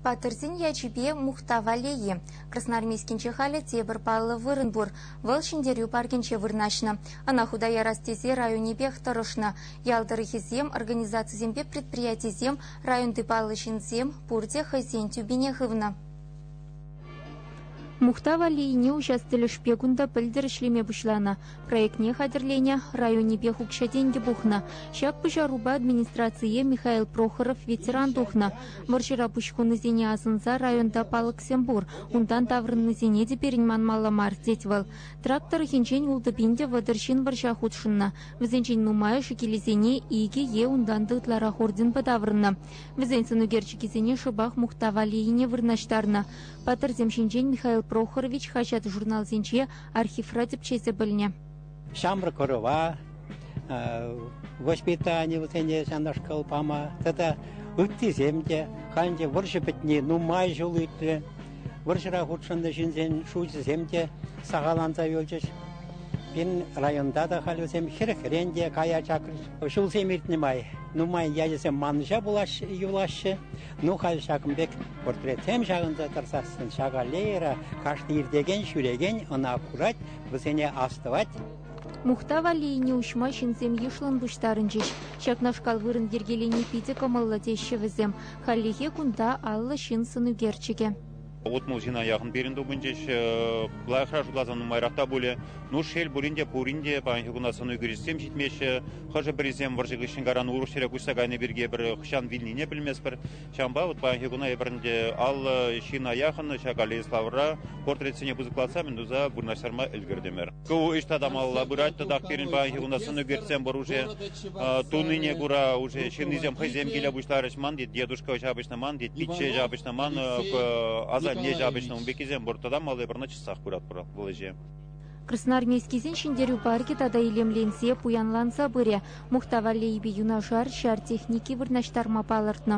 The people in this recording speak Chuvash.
Паттӑрсен ячӗпе мухтав-аллейи. Красноармейскинче халӗ тепӗр паллӑ вырӑн пур. Вӑл Ҫӗнтерӳ паркӗнче вырнаҫнӑ. Ӑна хута ярас тесе районӗпех тӑрӑшнӑ. Ял тӑрӑхӗсем, организацисемпе предприятисем, районти паллӑ ҫынсем пурте хӑйсен тӳпине хывнӑ. Мухтав аллейине уҫас тӗлӗшпе кунта пӗлтӗр ӗҫлеме пуҫланӑ. Проектне хатӗрленӗ районӗпех укҫа-тенкӗ пухнӑ. Ҫак пуҫарупа администрацие Михаил Прохоров ветеран тухнӑ. Вӑрҫӑра пуҫ хунисене асӑнса районта палӑксем пур, унтан таврӑннисене те пирӗн манмалла мар, тет вӑл. Трак тӑрӑхӗнчен ултӑ пин те вӑтӑр ҫын вӑрҫа хутшӑннӑ. Вӗсенчен нумайӑшӗ килӗсене икӗ е унтан та ытларах орденпа таврӑннӑ. Вӗсен сӑнӳкерчӗкӗсене шӑпах мухтав аллейине вырнаҫтарнӑ. Паттӑрсем ҫинчен Михаил Прохорович хаҫат-журналсенче архивра тӗпчесе пӗлнӗ. Ҫамрӑк ӑрӑва воспитани вӗсене ҫакнашкал пама тата ыттисем те халь те вӑрҫӑ пӗтни нумай ҫул иртрӗ. Вӑрҫӑра хутшӑннӑ ҫынсен шучӗсем те сахаланса юлчӗҫ. Пирӗн районта та халь вӗсем хӗрӗхрен те кая чакрӗҫ. Ҫулсем иртнӗ май нумай ячӗсем манӑҫа пулаҫҫӗ, юлаҫҫӗ. Ну халь ҫакӑн пек портретсем ҫакӑнса тӑрсассӑн ҫак аллейӑра кашни иртекен, ҫӳрекен ӑна курать, вӗсене астӑвать. Мухтав аллейине уҫма ҫынсем йышлӑн пуҫтарӑнчӗҫ. Ҫакнашкал вырӑн йӗркелени питӗ кӑмӑллӑ теҫҫӗ вӗсем. Хальлӗхе кунта аллӑ ҫын сӑн ӳкерчӗкӗ. утмӑлҫина яхӑн пирӗн тупӑнчӗҫ. Лайӑхра шутласан нумайрах та пулӗ. Ну, шел пулин те, пурин те паянхи куна сӑну кӳрисем ҫитмеҫҫӗ. Хӑшӗ-пӗрисем вӑрҫӑ хыҫҫӑн каран урӑх ҫӗре куҫса кайни пирки пӗр хӑҫан вилнине пӗлместпӗр. Ҫавӑнпа вот паянхи куна эпир ӗнтӗ аллӑ ҫина яхӑн ҫак аллея Славӑра портретсене пысӑклатса мӗн туса вырнаҫтарма ӗлкӗртӗмӗр. Ку ӑҫта тамалла пырать тӑтах пирӗн паянхи кунта сӑнӳкерсем пур уже тунине кура уже ҫыннисем хӑйсем киле пуҫларӗҫ ман тет дедушка ҫапӑҫнӑ ман тет пичче ҫапӑҫнӑ ман асанне ҫапӑҫнӑ ун пеккисем пур тата малли пӗр наччасах пыратпӑр вӑл ӗҫе. Красноармейскисен ҫӗнтерӳ паркӗ тата илемленсе, пуянланса пырӗ. Мухтавалли юнашар ҫар техники вырнаҫтарма палӑртнӑ.